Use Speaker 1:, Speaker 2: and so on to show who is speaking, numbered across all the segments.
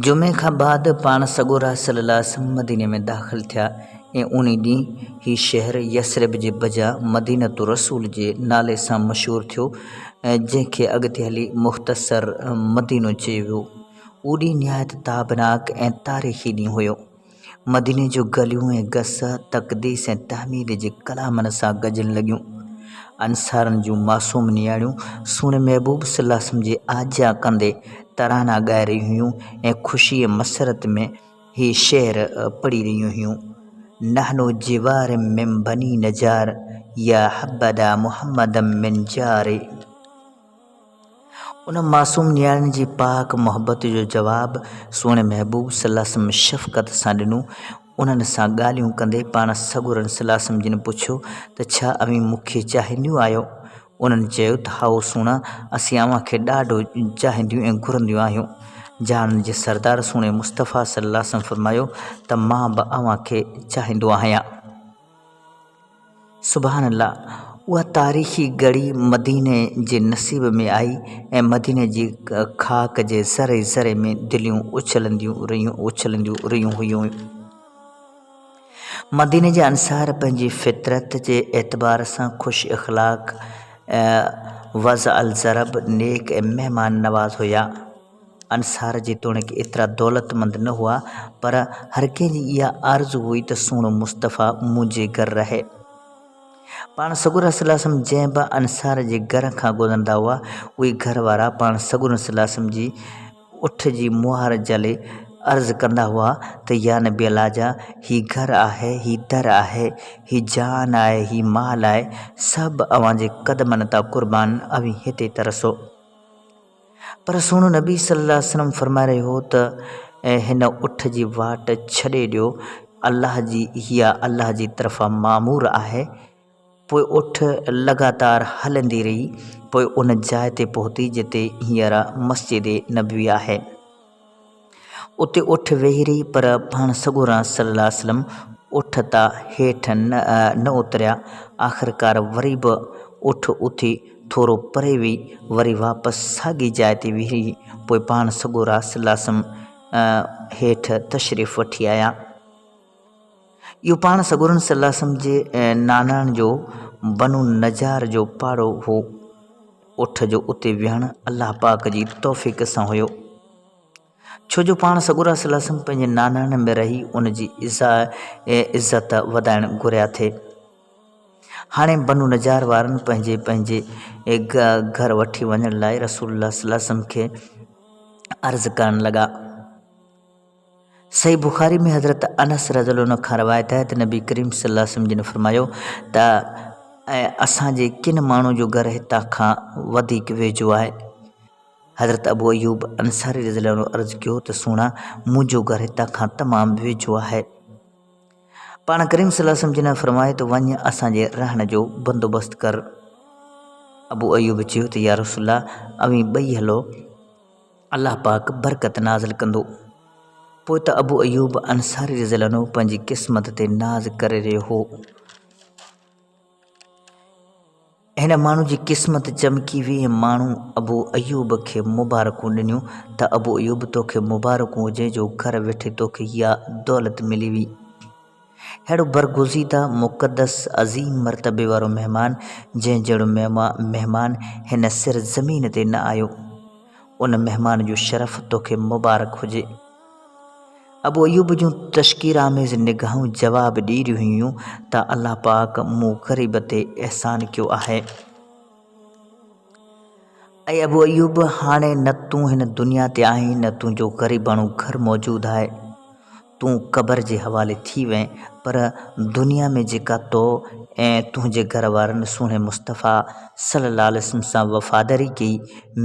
Speaker 1: جمعي کان بعد پاڻ سڳورا صلّي الله عليه وسلّم مديني ۾ داخل ٿيا ۽ انهي ڏينهن هي شهر يثرب جي بجا مدينة الرسول جي نالي سان مشهور ٿيو ۽ جنهن کي اڳتي هلي مختصر مدينو چيو ويو. اهو ڏينهن نهايت تابناڪ ۽ تاريخي ڏينهن هيو. مديني جون گليون ۽ گس تقديس ۽ تحميد جي ڪلامن سان گجڻ لڳيون. انصارن جون معصوم نياڻيون سهڻي محبوب صلي الله عليه وسلم جي آجيان ڪندي ترانا ڳائي رهيون هيون ۽ خوشي ۽ مسرت ۾ هي شعر پڙهي رهيون هيون، نحن جوار من بني نجار يا حبذا محمدا من جار. ان معصوم نياڻي جي پاڪ محبت جو جواب سهڻي محبوب صلّي الله عليه وسلّم شفقت سان ڏنو. انهن سان ڳالهيون ڪندي پاڻ سڳورن صلّي الله عليه وسلّم جن پڇيو ته ڇا اوهين مون کي چاهينديون آهيو؟ انهن چيو ته هائو سهڻا اسين اوهان کي ڏاڍو چاهينديون ۽ گهرنديون آهيون. جهانن جي سردار سهڻي مصطفٰي صلّي الله عليه وسلّم فرمايو ته مان به اوهان کي چاهيندو آهيان. سبحان الله اها تاريخي گڙهي مديني جي نصيب ۾ آئي ۽ مديني جي خاڪ جي ذري ذري ۾ دليون اڇلنديون رهيون هيون. مديني جا انصار پنهنجي فطرت جي اعتبار سان خوش اخلاق، وضع الضرب، نيڪ ۽ مهمان نواز هيا. انصار جيتوڻيڪ ايترا دولتمند نه هئا، پر هر ڪنهن جي اها آرزو هئي ته سهڻو مصطفيٰ منهنجي گهر رهي. پاڻ سڳورن صلّي الله عليه وسلّم جنهن به انصار جي گهر کان گذرندا هئا، اهي گهر وارا پاڻ سڳورن صلّي الله عليه وسلّم جي اٺ جي مهر جهلي عرض ڪندا هئا ته يا نبي الله جا هي گهر آهي، هي در آهي، هي جان آهي، هي مال آهي، سڀ اوهان جي قدمن تان قربان، اوهين هتي ترسو. پر سهڻو نبي صلي الله عليه وسلم فرمائي رهيو هو ته هن اٺ جي واٽ ڇڏي ڏيو الله جي اها الله جي طرفان مامور آهي پوء اٺ لڳاتار هلندي رهي پوء ان جاء تي پهتي جتي هينئر مسجد نبوي آهي. اتي اٺ ويهي رهي پر پاڻ سڳورا صلّي اللّٰه عليه وسلّم اٺ تان هيٺ نه اتريا. آخرڪار وري به اٺ اٿي ٿورو پري ويئي، وري واپس ساڳي جاء تي ويهي رهي، پوء پاڻ سڳورا صلّي اللّٰه عليه وسلّم هيٺ تشريف وٺي آيا. اهو پاڻ سڳورن صلّي اللّٰه عليه وسلّم جي نانڻن جو بنو النّجّار جو پاڙو هو. اٺ جو اتي ويهڻ الله پاڪ جي توفيق سان هيو. ڇو جو پاڻ سڳورا صلي الله وسلم پنهنجي ناناڻين ۾ رهي ان جي عزت وڌائڻ گهريا ٿي. هاڻي بنو نجار وارن پنهنجي پنهنجي گهر وٺي وڃڻ لاء رسول الله صلي الله عليه وسلم کي عرض ڪرڻ لڳا. صحيح بخاري ۾ حضرت انس رضي الله عنه کان روايت آهي ته نبي ڪريم صلي الله عليه وسلم جن فرمايو ته اي اسان جي ڪن ماڻهن جو گهر هتان کان وڌيڪ ويجهو آهي. حضرت ابو ايوب انصاري رضي الله عنه عرض ڪيو ته سهڻا منهنجو گهر هتان کان تمام ويجهو آهي. پاڻ ڪريم صلي الله عليه وسلم جنهن فرمايو ته وڃ اسان جي رهڻ جو بندوبست ڪر. ابو ايوب چيو ته يا رسول الله اوهين ٻئي هلو الله پاڪ برڪت نازل ڪندو. پوء ته ابو ايوب انصاري رضي الله عنه پنهنجي قسمت تي ناز ڪري رهيو هو. هن ماڻهو جي قسمت چمڪي ويئي ۽ ماڻهن ابو ايوب کي مبارڪون ڏنيون ته ابو ايوب توکي مبارڪون هجين جو گهر ويٺي توکي اها دولت ملي ويئي. ههڙو برگزيده، مقدس، عظيم مرتبي وارو مهمان جنهن جهڙو مهمان هن سر زمين تي نه آيو. ان مهمان جو شرف توکي مبارڪ هجي. ابو ايوب جون تشڪر آميز نگاهون جواب ڏئي رهيون هيون ته الله پاڪ مون غريب تي احسان ڪيو آهي. اي ابو ايوب! هاڻي نه تون هن دنيا تي آهين نه تنهنجو غريباڻو گهر موجود آهي. تون قبر جي حوالي ٿي وئين پر دنيا ۾ جيڪا تو ۽ تنهنجي گهر وارن سهڻي مصطفيٰ صلّي اللّٰه عليه وسلّم سان وفاداري ڪئي،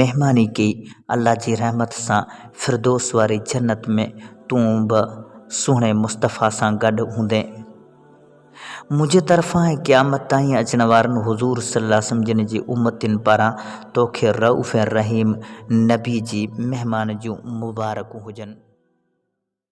Speaker 1: مهماني ڪئي، الله جي رحمت سان فردوس واري جنت ۾ تون به سهڻي مصطفيٰ سان گڏ هوندين. منهنجي طرفان ۽ قيامت تائين اچڻ وارن حضور صلّي اللّٰه عليه وسلّم جن جي امّتين پاران توکي رئوف ۽ رحيم نبي جي مهمان جون مبارڪون هجن.